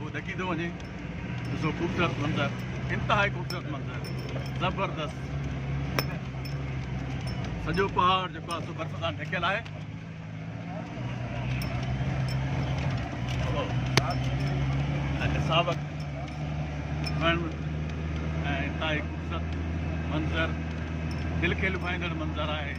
هو ڏڪي ٿو وڃي. ڏسو خوبصورت منظر انتهائي خوبصورت منظر زبردست سڄو پهاڙ جيڪو آهي سو برف سان ڍڪيل آهي ساوڪ وڻ انتهائي خوبصورت منظر دل کي لڀائيندڙ منظر آهي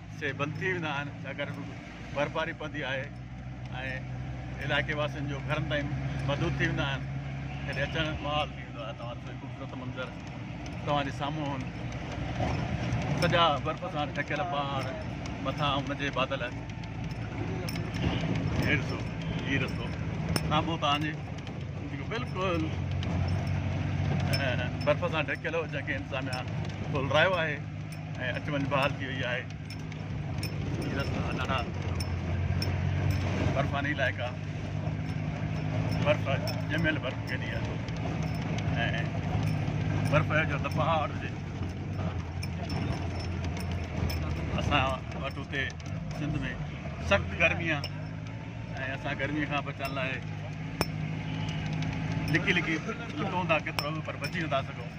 سي بند ٿي ويندا آهن ڇاڪاڻ ته برفباري پوندي آهي ۽ علائقي واسين جو گهرن تائين محدود ٿي ويندا آهن ڪڏهن اچڻ محال ٿي ويندو آهي توهان ڏسو خوبصورت منظر توهان جي سامهون سڄا برف سان ڍڪيل پهاڙ مٿان ان جي بادل هي ڏسو هي رستو سامهون توهان جي جيڪو بلڪل برف سان ڍڪيل هو جنهن کي انتظاميا کول رايو آهي ۽ اچ وڃ بحال ٿي وئي آهي هي رستا ڏاڍا برفاني علائقا برف ڄميل برف ڪيڏي آهي ۽ برف جو ته پهاڙ هجي اسان وٽ اتي سنڌ ۾ سخت گرمي آ ۽ اسان گرمي کان بچڻ لاء لڪي لڪي لڪون ٿا ڪيترو به پر بچي نٿا سگهون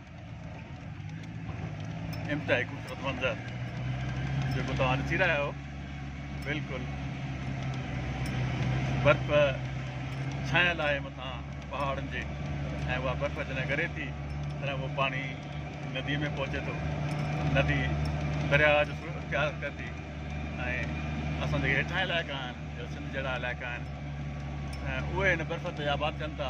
انتهائي خوبصورت منظر جيڪو توهان ڏسي رهيا آهيو بلڪل برف ڇانيل آهي مٿان پهاڙن جي ۽ اها برف جڏهن ڳري ٿي تڏهن اهو پاڻي ندي ۾ پهچي ٿو ندي درياء جو سور اختيار ڪري ٿي ۽ اسان جيڪي هيٺاهين علائقا آهن سنڌ جهڙا علائقا آهن اهي هن برف تي آباد ڪن ٿا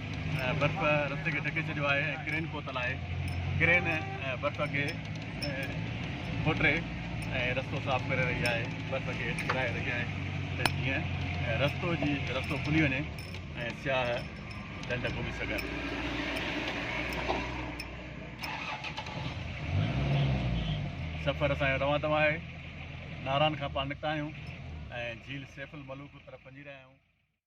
برف رستي کي ڍڪي ڇڏيو آهي ۽ ڪرين پهتل آهي ڪرين برف کي کوٽري ۽ رستو صاف ڪري رهي آهي برف کي ڪرائي رهي آهي ته جيئن رستو جي رستو کلي وڃي ۽ سياح ڍنڍ گهمي سگهن سفر اسان جو روان دوان آهي ناران کان پاڻ نڪتا آهيون ۽ جھيل سيف الملوڪ طرف وڃي رهيا آهيون